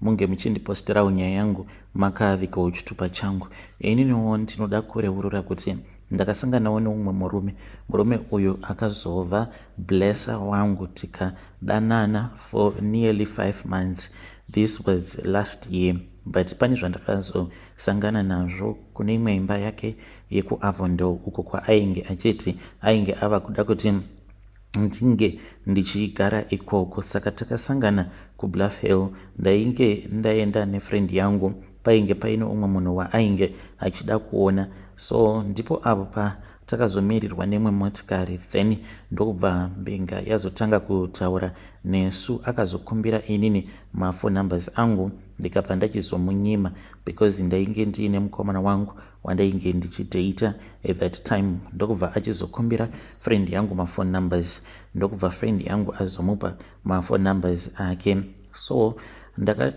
munge muchindipostirawo nyaya yangu makaavikawo chitupa changu ininiwo ndinoda kureurura kuti ndakasanganawo neumwe murume murume uyu akazova blesser wangu tikadanana for nearly five months this was last year but pane zvandakazosangana nazvo kune imwe imba yake yekuavondo uko kwaainge achiti ainge ava kuda kuti ndinge ndichigara ikoko saka takasangana kubluff hill ndainge ndaenda nefriend yangu painge paine umwe munhu waainge achida kuona so ndipo avo pa takazomirirwa nemwe motikari then ndokubva mbinga yazotanga kutaura nesu akazokumbira inini mafo numbers angu ndikabva ndachizomunyima because ndainge ndiine mukomana wangu wandainge ndichidata at that time ndokubva achizokumbira friend yangu mafone numbers ndokubva friend yangu azomupa mafone numbers ake so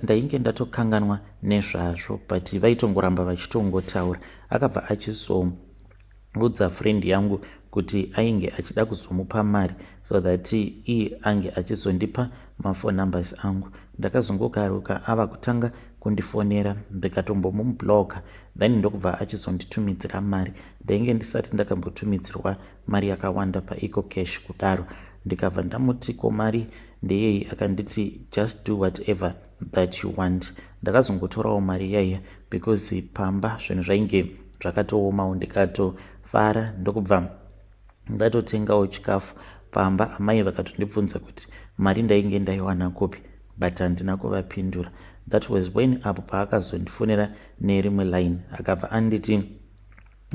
ndainge ndatokanganwa nezvazvo but vaitongoramba vachitongotaura akabva achizoudza friend yangu kuti ainge achida kuzomupa mari so that iye ange achizondipa maphone numbers angu ndakazongokaruka ava kutanga kundifonera ndikatombomumubloka then ndokubva achizonditumidzira mari ndainge ndisati ndakambotumidzirwa mari yakawanda paeco cash kudaro ndikabva ndamuti ko mari ndeyei akanditi just do whatever that you want ndakazongotorawo mari yaiya because pamba zvinhu zvainge zvakatoomawo ndikatofara ndokubva ndatotengawo chikafu pamba amai vakatondibvunza kuti mari ndainge ndaiwana kupi but handina kuvapindura that was when apo paakazondifonera nerimwe line akabva anditi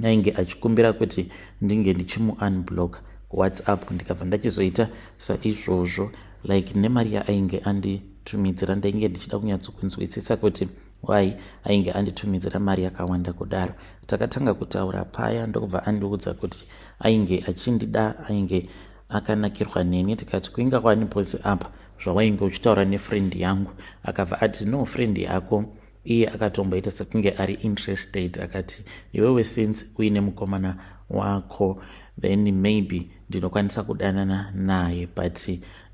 ainge achikumbira kuti ndinge ndichimuunblock whatsapp ndikabva ndachizoita saizvozvo like nemari yaainge anditumidzira ndainge ndichida kunyatsokunzwisisa kuti why ainge anditumidzira mari yakawanda kudaro takatanga kutaura paya ndokubva andiudza kuti ainge achindida ainge akanakirwa neni tikati kuinga kwani posi apa zvawainge uchitaura nefriend yangu akabva ati no friend yako iye akatomboita sekunge ari interested akati iwewe since uine mukomana wako then maybe ndinokwanisa kudanana naye but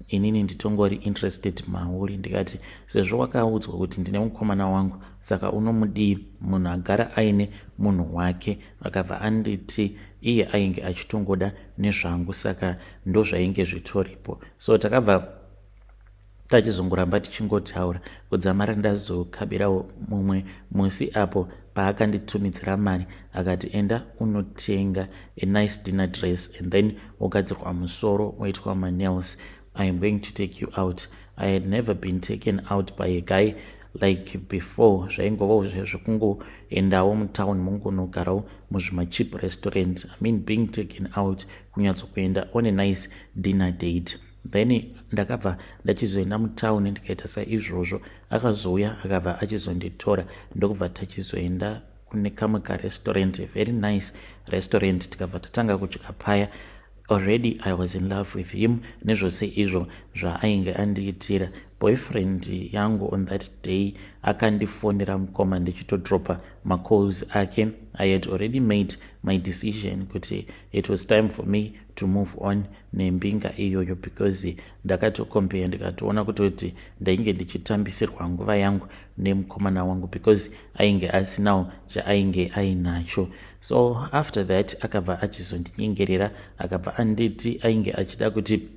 inini nditongori interested mauri ndikati sezvo wakaudzwa kuti ndine mukomana wangu saka unomudii munhu agara aine munhu wake akabva anditi iye ainge achitongoda nezvangu saka ndozvainge zvitoripo so takabva tachizongoramba tichingotaura kudzamara ndazokabirawo mumwe musi apo paakanditumidzira mari akati enda unotenga a nice dinner dress and then wogadzirwa musoro woitwa manails i am going to take you out i had never been taken out by a guy like before zvaingovawo zvekungoendawo mutown mongonogarawo muzvimachip restaurant i mean being taken out kunyatsokuenda on a nice dinner date then ndakabva ndachizoenda mutown ndikaita saizvozvo akazouya akabva achizonditora ndokubva tachizoenda kune kamwe karestaurant very nice restaurant tikabva tatanga kudya paya already i was in love with him nezvose izvo zvaainge andiitira boyfriend yangu on that day akandifonera mukoma ndichitodropa macalls ake i had already made my decision kuti it was time for me to move on nembinga iyoyo because ndakatocompare ndikatoona kutoti ndainge ndichitambisirwa nguva yangu nemukomana wangu because ainge asinawo chaainge ainacho so after that akabva achizondinyengerera akabva anditi ainge achida kuti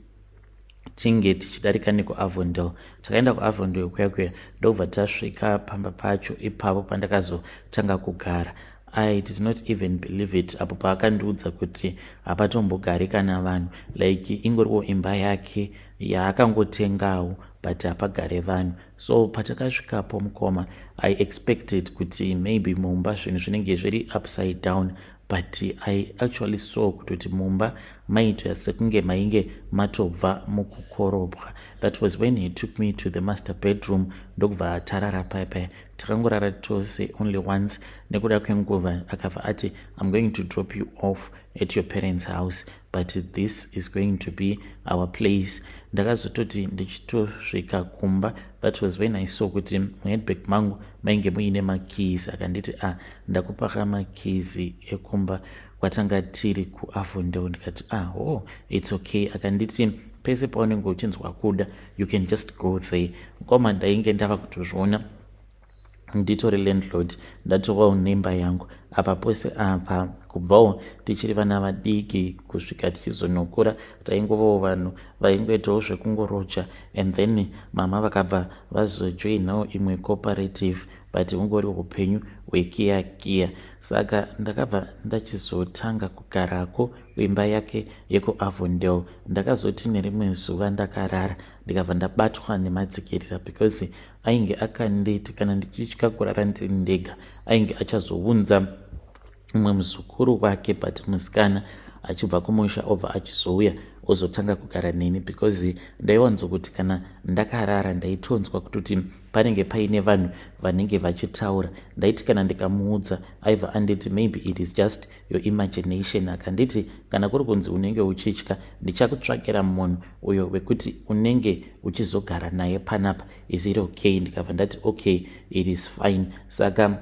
tinge tichidarika nekuavondel takaenda kuavondel kuya kuya ndokubva tasvika pamba pacho ipapo pandakazotanga kugara i did not even believe it apo paakandiudza kuti hapatombogari kana vanhu like ingoriwo imba yake yaakangotengawo but hapagare vanhu so patakasvikapo mukoma i expected kuti maybe mumba zvinhu zvinenge zviri upside down but i actually saw kutoti mumba maitoya sekunge mainge matobva mukukorobwa that was when he took me to the master bedroom ndokubva atarara paya paya takangorara tose only once nekuda kwenguva akabva ati i'm going to drop you off at your parents house but this is going to be our place ndakazototi ndichitosvika kumba that was when i saw kuti muheadback mangu mainge muine makeys akanditi a ah, ndakupaka makeys ekumba kwatanga tiri kuavondeo ndikati a ah, oh its okay akanditi pese paunenge uchinzwa kuda you can just go there mukoma ndainge ndava kutozviona nditori landlord ndatovawo nemba yangu apa pose apa kubvawo tichiri vana vadiki kusvika tichizonokura taingovawo vanhu vaingoitawo zvekungoroja and then mama vakabva vazojoinawo imwe cooperative but hungori upenyu hwekiya kiya saka ndakabva ndachizotanga kugarako kuimba yake yekuavondel ndakazoti nerimwe zuva ndakarara ndikabva ndabatwa nematsikirira because ainge akanditi kana ndichitya kurara ndiri ndega ainge achazounza mumwe muzukuru wake but musikana achibva kumusha obva achizouya ozotanga kugara neni because ndaiwanzo kuti kana ndakarara ndaitonzwa kutoti panenge paine vanhu vanenge vachitaura ndaiti kana ndikamuudza aiva anditi maybe it is just your imagination akanditi kana kuri kunzi unenge uchitya ndichakutsvakira munhu uyo wekuti unenge uchizogara naye panapa is it okay ndikabva ndati okay it is fine saka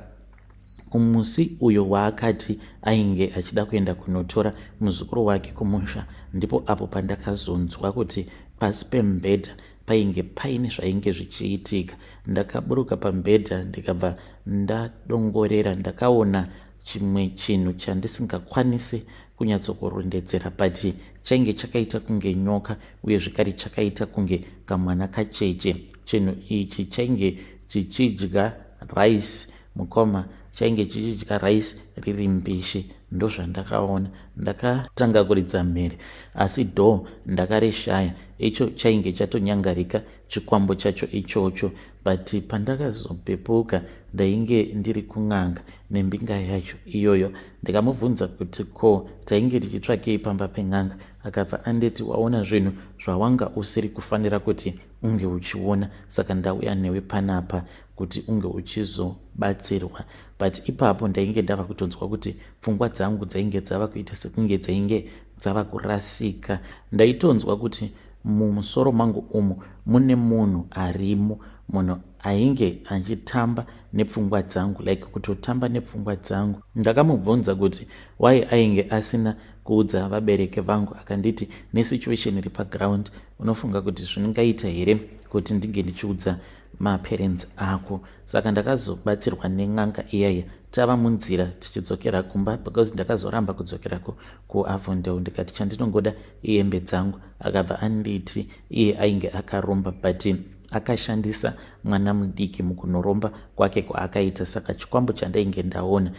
umusi uyo waakati ainge achida kuenda kunotora muzukuru wake kumusha ndipo apo pandakazonzwa kuti pasi pembedha painge paine zvainge zvichiitika ndakaburuka pambedha ndikabva ndadongorera ndakaona chimwe chinhu chandisingakwanise kunyatsokurondedzera but chainge chakaita kunge nyoka uye zvekare chakaita kunge kamwana kacheche chinhu ichi chainge chichidya rice mukoma chainge chichidya rice riri mbishi ndozvandakaona ndakatanga kuridza mhere asi dho ndakarishaya icho chainge chatonyangarika chikwambo chacho ichocho but pandakazopepuka ndainge ndiri kun'anga nembinga yacho iyoyo ndikamubvunza kuti ko tainge tichitsvakei pamba pen'anga akabva anditi waona zvinhu zvawanga usiri kufanira kuti unge uchiona saka ndauya newe panapa kuti unge uchizobatsirwa but ipapo ndainge ndava kutonzwa kuti pfungwa dzangu dzainge dzava kuita sekunge dzainge dzava kurasika ndaitonzwa kuti Mumusoro mangu umu mune munhu arimo munhu ainge achitamba nepfungwa dzangu like kutotamba nepfungwa dzangu ndakamubvunza kuti why ainge asina kuudza vabereki vangu akanditi nesituation iri paground unofunga kuti zvingaita here kuti ndinge ndichiudza maparents ako saka ndakazobatsirwa nen'anga iyaya tava munzira tichidzokera kumba because ndakazoramba kudzokera ku, kuavondel ndikati chandinongoda ihembe dzangu akabva anditi iye ainge akaromba but akashandisa mwana mudiki mukunoromba kwake kwaakaita saka chikwambo chandainge ndaona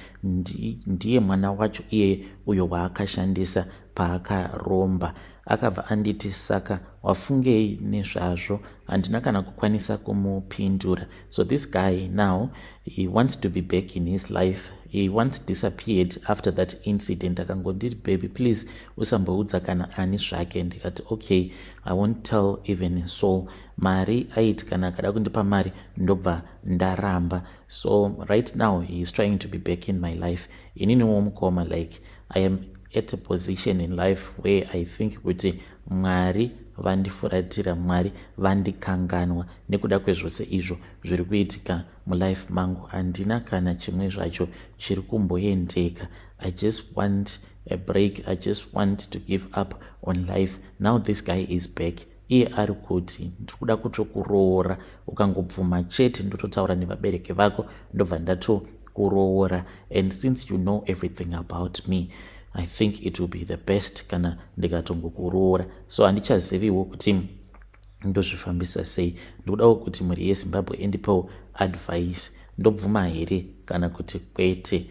ndiye mwana wacho iyeye uyo waakashandisa paakaromba akabva anditi saka wafungei nezvazvo handina kana kukwanisa kumupindura so this guy now he wants to be back in his life he once disappeared after that incident akangondiri baby please usamboudza kana ani zvake ndikati okay i won't tell even so mari aiti kana akada kundipa mari ndobva ndaramba so right now he is trying to be back in my life ininiwo mukoma like i am at a position in life where i think kuti mwari vandifuratira mwari vandikanganwa nekuda kwezvose izvo zviri kuitika mulife mangu handina kana chimwe zvacho chiri kumboendeka i just want a break i just want to give up on life now this guy is back iye ari kuti ndiri kuda kutokuroora ukangobvuma chete ndototaura nevabereki vako ndobva ndatokuroora and since you know everything about me i think it will be the best kana ndikatongokuroora so handichaziviwo kuti ndozvifambisa sei ndikudawo kuti mhuri yezimbabwe endipawo advice ndobvuma here kana kuti kwete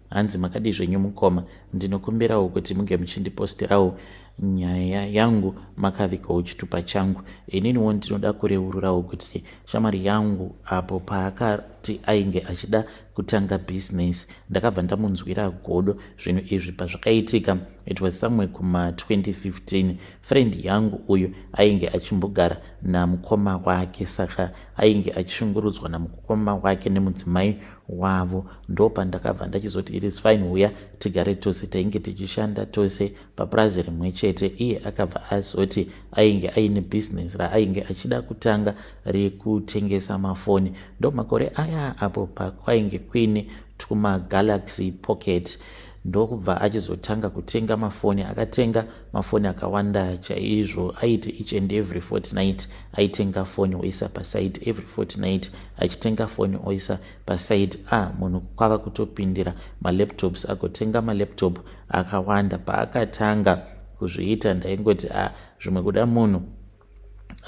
hanzi makadii zvenyu mukoma ndinokumbirawo kuti munge muchindipostirawo nyaya yangu makavikawo chitupa changu ininiwo ndinoda kureururawo kuti shamwari yangu apo paakati ainge achida kutanga bhizinesi ndakabva ndamunzwira godo zvinhu izvi pazvakaitika it was somewhere kuma 2015 friend yangu uyu ainge achimbogara namukoma wake saka ainge achishungurudzwa namukoma wake nemudzimai wavo ndopandakabva ndachizoti it is fine huya tigare tose tainge tichishanda tose papurazi rimwe chete iye akabva azoti ainge aine bhizinesi raainge achida kutanga rekutengesa mafoni ndomakore aya apo pakwainge kuine twumagalaxy pocket ndokubva achizotanga kutenga mafoni akatenga mafoni akawanda chaizvo aiti each and every fortnight aitenga foni oisa paside every fortnight achitenga foni oisa paside a ah, munhu kwava kutopindira malaptops agotenga malaptop akawanda paakatanga kuzviita ndaingoti a ah, zvimwe kuda munhu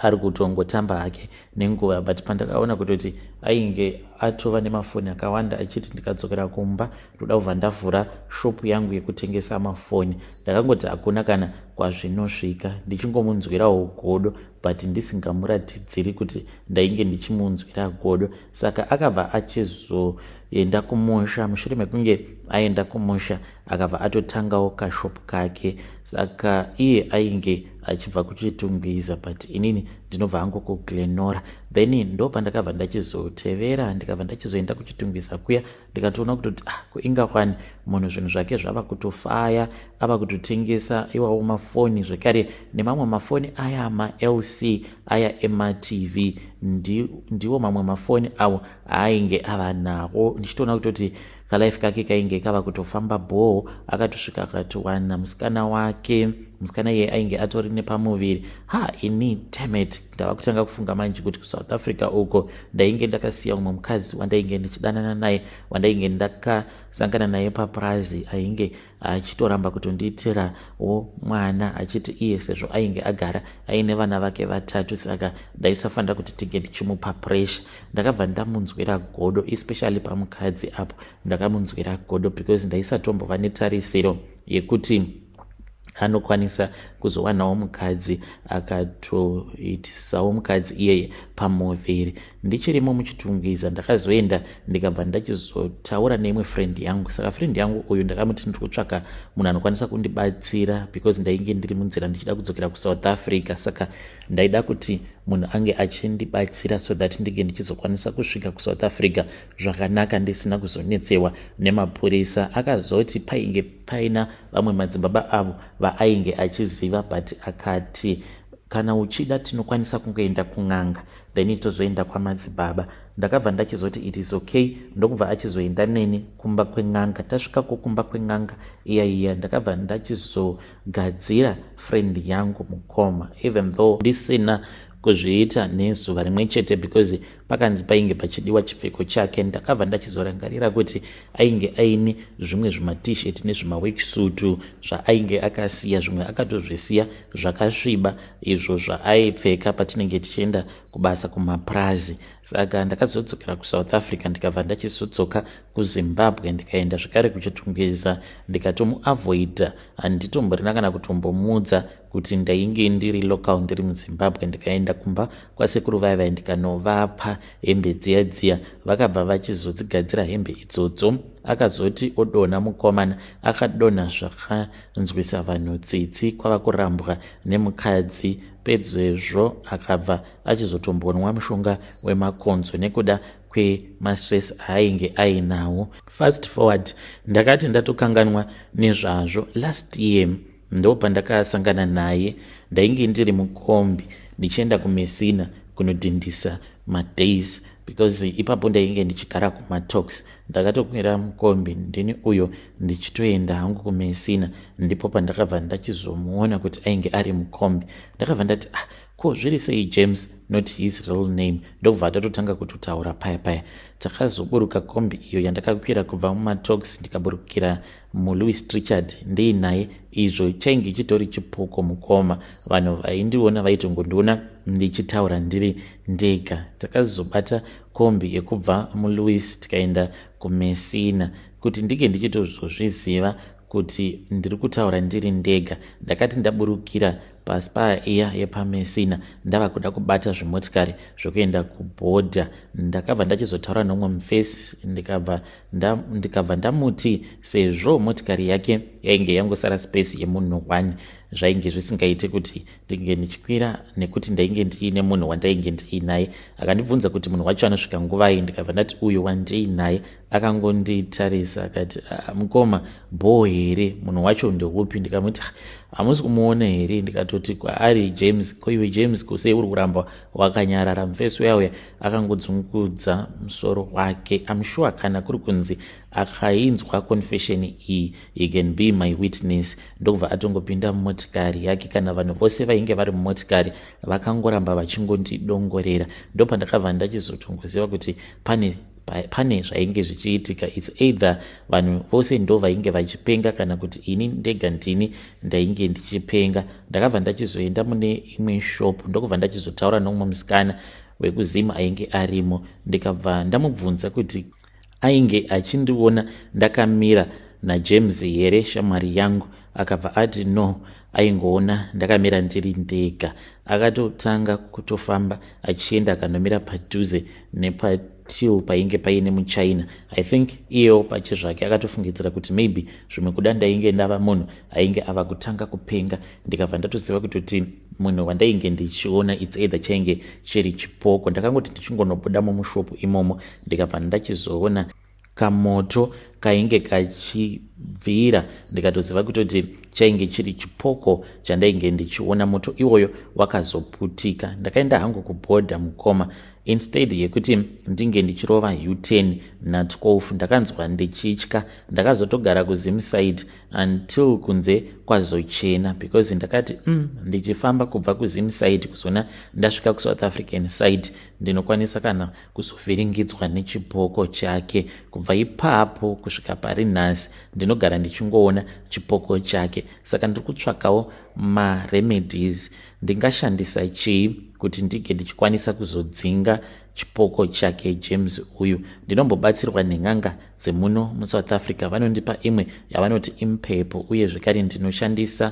ari kutongotamba hake nenguva but pandakaona kutoti ainge atova nemafoni akawanda achiti ndikadzokera kumba ndoda kubva ndavhura shopu yangu yekutengesa mafoni ndakangoti hakuna kana kwazvinosvika ndichingomunzwirawo godo but ndisingamuratidziri kuti ndainge ndichimunzwira godo saka akabva achizoenda kumusha mushure mekunge aenda kumusha akabva atotangawo kashop kake saka iye ainge achibva kuchitungwiza but inini ndinobva hangu kuglenora then ndo pandakabva ndachizotevera ndikabva ndachizoenda kuchitungwiza kuya ndikatoona kutoti ah kuinga kwani munhu zvinhu zvake zvava kutofaya ava kutotengesa iwawo mafoni zvekare nemamwe mafoni aya malc aya ematv ndiwo mamwe mafoni awo aainge ava nawo ndichitoona kutoti kalife kake kainge kava kutofamba bhoo akatosvika akatiwana musikana wake musikana iye ainge atori nepamuviri ha ini damet ndava kutanga kufunga manje kuti kusouth africa uko ndainge ndakasiya umwe mukadzi wandainge ndichidanana naye wandainge ndakasangana naye papurazi ainge achitoramba kutondiitira wo mwana achiti iye sezvo ainge agara aine vana vake vatatu saka ndaisafanira kuti tinge ndichimupa pressure ndakabva ndamunzwira godo especially pamukadzi apo ndakamunzwira godo because ndaisatombova netarisiro yekuti anokwanisa kuzowanawo mukadzi akatoitisawo mukadzi iyeye pamuviri ndichirimo muchitungwiza ndakazoenda ndikabva ndachizotaura neimwe friend yangu saka friend yangu uyu ndakamuti ndiri kutsvaka munhu anokwanisa kundibatsira because ndainge ndiri munzira ndichida kudzokera kusouth africa saka ndaida kuti munhu ange achindibatsira so that ndinge ndichizokwanisa kusvika kusouth africa zvakanaka ndisina kuzonetsewa nemapurisa akazoti painge paina vamwe madzibaba avo vaainge achiziva but akati kana uchida tinokwanisa kungoenda kun'anga then tozoenda kwamadzibaba ndakabva ndachizoti it is okay ndokubva achizoenda neni kumba kwen'anga tasvikako kumba kwen'anga iya iya ndakabva ndachizogadzira friend yangu mukoma even though ndisina kuzviita nezuva rimwe chete because pakanzi painge pachidiwa chipfeko chake ndakabva ndachizorangarira kuti ainge aine zvimwe zvimatishet nezvimawechusutu zvaainge akasiya zvimwe akatozvisiya zvakasviba izvo zvaaipfeka patinenge tichienda kubasa kumapurazi saka ndakazodzokera kusouth africa ndikabva ndachizodzoka kuzimbabwe ndikaenda zvekare kuchitungwiza ndikatomuavoida handitomborina kana kutombomuudza kuti ndainge ndiri local ndiri muzimbabwe ndikaenda kumba kwasekuru vaya vaya ndikanovapa hembe dziya dziya vakabva vachizodzigadzira hembe idzodzo akazoti odonha mukomana akadonha zvaka nzwisa vanhu tsitsi kwava kurambwa nemukadzi pedzezvo akabva achizotombonwa mushonga wemakonzo nekuda kwemastress aainge ainawo fast forward ndakati ndatokanganwa nezvazvo last year ndo pandakasangana naye ndainge ndiri mukombi ndichienda kumesina kunodhindisa madays because ipapo ndainge ndichigara kumatox ndakatokwira mukombi ndini uyo ndichitoenda hangu kumesina ndipo pandakabva ndachizomuona kuti ainge ari mukombi ndakabva ndati ah ko zviri sei james not his real name ndokubva atatotanga kutotaura paya paya takazoburuka kombi iyo yandakakwira kubva mumatox ndikaburukira mulouis trichard ndiinaye izvo chainge chitori chipoko mukoma vanhu vaindiona vaitongondiona ndichitaura ndiri ndega takazobata kombi yekubva mulouis tikaenda kumesina kuti ndinge ndichitozozviziva kuti ndiri kutaura ndiri ndega ndakati ndaburukira paspaya iya yepamesina ndava kuda kubata zvimotikari zvokuenda kubhodha ndakabva ndachizotaura nomwe mufesi ndikabva ndikabva ndamuti sezvo motikari yake yainge yangosara space yemunhu one zvainge zvisingaiti kuti ndinge ndichikwira nekuti ndainge ndiine munhu wandainge ndiinaye akandibvunza kuti munhu wacho anosvika nguvai ndikabva ndati uyo wandiinaye akangonditarisa akati ah, mukoma bhoo here munhu wacho ndeupi ndikamuti ah, hamusi kumuona here ndikatoti kwaari james koiwe james kusei uri kuramba wakanyarara mufesi uyauya akangodzungudza musoro wake amshuwa kana kuri kunzi akainzwa confession iyi He can be my witness. Ndokubva atongopinda mumotikari yake kana vanhu vose vainge vari mumotikari vakangoramba vachingondidongorera. Ndopandakabva ndachizotongoziva kuti pane pane zvainge zvichiitika its either vanhu vose ndo vainge vachipenga kana kuti ini ndega ndini ndainge ndichipenga ndakabva ndachizoenda mune imwe shop ndokubva ndachizotaura nomumwe musikana wekuzim ainge arimo ndikabva ndamubvunza kuti Ainge achindiona ndakamira naJames here shamwari yangu? Akabva ati no, aingoona ndakamira ndiri ndega. Akatotanga kutofamba achienda akanomira padhuze nepatil painge paine muchina. I think iyewo pache zvake akatofungidzira kuti maybe zvimwe kuda ndainge ndava munhu ainge ava kutanga kupenga. Ndikabva ndatoziva kutoti munhu wandainge ndichiona it's either chainge chiri chipoko. Ndakangoti ndichingonobuda mumushopu imomo ndikabva ndachizoona kamoto kainge kachibvira ndikatoziva kutoti chainge chiri chipoko chandainge ndichiona moto iwoyo wakazoputika ndakaenda hangu kubhodha mukoma instead yekuti ndinge ndichirova u10 na12 ndakanzwa ndichitya ndakazotogara kuzimside until kunze kwazochena because ndakati um mm, ndichifamba kubva kuzimside kuzona ndasvika kusouth african side ndinokwanisa kana kuzovhiringidzwa nechipoko chake kubva ipapo kusvika pari nhasi ndinogara ndichingoona chipoko chake saka ndiri kutsvakawo maremedies ndingashandisa chii kuti ndinge ndichikwanisa kuzodzinga chipoko chake james uyu ndinombobatsirwa nen'anga dzemuno musouth africa vanondipa imwe yavanoti impepo uye zvekare ndinoshandisa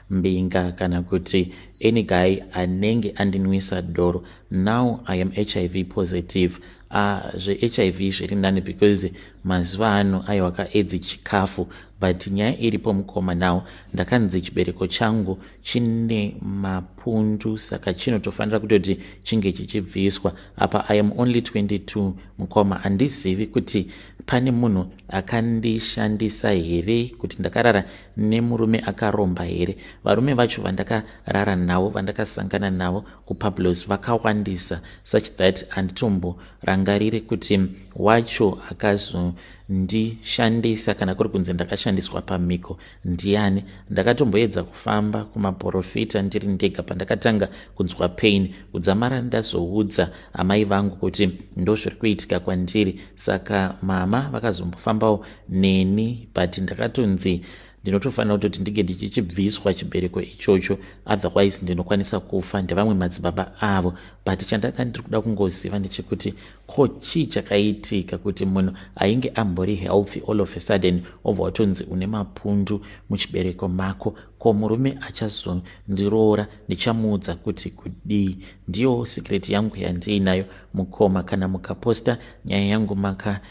mbinga kana kuti any guy anenge andinwisa doro now i am hiv positive uh, zvehiv zviri nani because mazuva ano aiwa kaedzi chikafu but nyaya iripo mukoma now ndakanzi chibereko changu chine mapundu saka chinotofanira kutoti chinge chichibviswa apa i am only 22 mukoma handizivi kuti pane munhu akandishandisa here kuti ndakarara nemurume akaromba here varume vacho vandakarara navo vandakasangana navo kupablos vakawandisa such that handitomborangariri kuti wacho akazondishandisa kana kuri kunzi ndakashandiswa pamhiko ndiani ndakatomboedza kufamba kumaporofita ndiri ndega pandakatanga kunzwa pain kudzamara ndazoudza amai vangu kuti ndozviri kuitika kwandiri saka mama vakazombofambawo neni but ndakatonzi ndinotofanira kutoti ndinge ndichichibviswa chibereko ichocho otherwise ndinokwanisa kufa ndevamwe madzibaba avo but chandanga ndiri kuda kungoziva ndechekuti ko chii chakaitika kuti munhu ainge ambori healthy all of a sudden obva watonzi une mapundu muchibereko mako ko murume achazondiroora ndichamuudza kuti kudii ndiyo secret yangu yandiinayo mukoma kana mukaposta nyaya yangu maka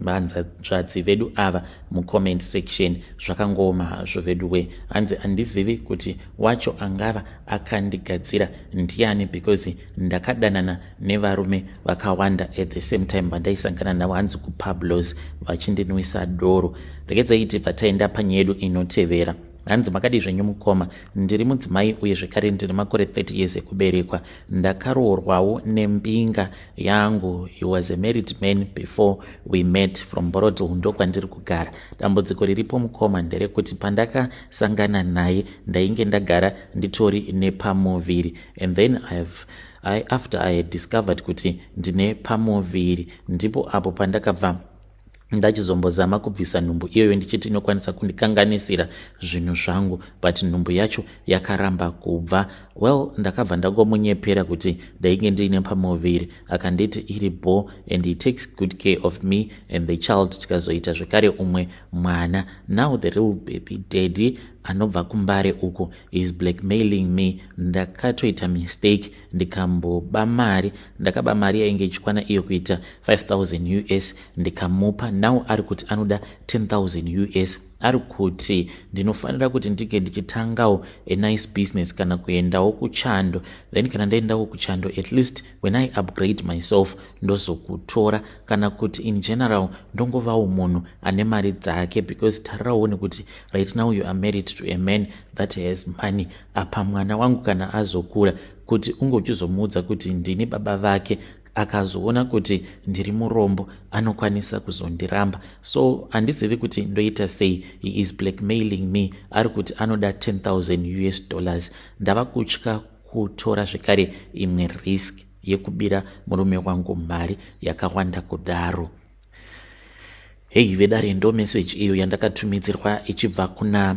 vanzvadzi vedu ava mucomment section zvakangooma hazvo veduwe hanzi handizivi kuti wacho angava akandigadzira ndiani because ndakadanana nevarume vakawanda at the same time vandaisangana navo hanzi kupablos vachindinwisa doro rekedzaiti pataenda panyedu inotevera hanzi makadii zvenyu mukoma ndiri mudzimai uye zvekare ndiri makore 30 years ekuberekwa ndakaroorwawo nembinga yangu he was a married man before we met from borodow ndokwandiri kugara dambudziko riripo mukoma nderekuti pandakasangana naye ndainge ndagara nditori nepamuviri and then ihave I, after i had discovered kuti ndine pamuviri ndipo apo pandakabva ndachizombozama kubvisa nhumbu iyoyo ndichiti inokwanisa kundikanganisira zvinhu zvangu but nhumbu yacho yakaramba kubva well ndakabva ndangomunyepera kuti ndainge ndiine pamuviri akanditi iri bo and he takes good care of me and the child tikazoita zvekare umwe mwana now the real baby daddy anobva kumbare uku is blackmailing me ndakatoita mistake ndikamboba mari ndakaba mari yainge ichikwana iyo kuita 5000 us ndikamupa now ari kuti anoda 10000 us ari kuti ndinofanira kuti ndinge ndichitangawo a nice business kana kuendawo kuchando then kana ndaendawo kuchando at least when i upgrade myself ndozokutora kana kuti in general ndongovawo munhu ane mari dzake because tarirawo nekuti right now you are married to a man that has money apa mwana wangu kana azokura kuti unge uchizomuudza kuti ndini baba vake akazoona kuti ndiri murombo anokwanisa kuzondiramba so handizivi kuti ndoita sei he is blackmailing me ari kuti anoda 10000 us dollars ndava kutya kutora zvekare imwe risk yekubira murume wangu mari yakawanda kudaro heyi vedare ndo meseji iyo yandakatumidzirwa ichibva kuna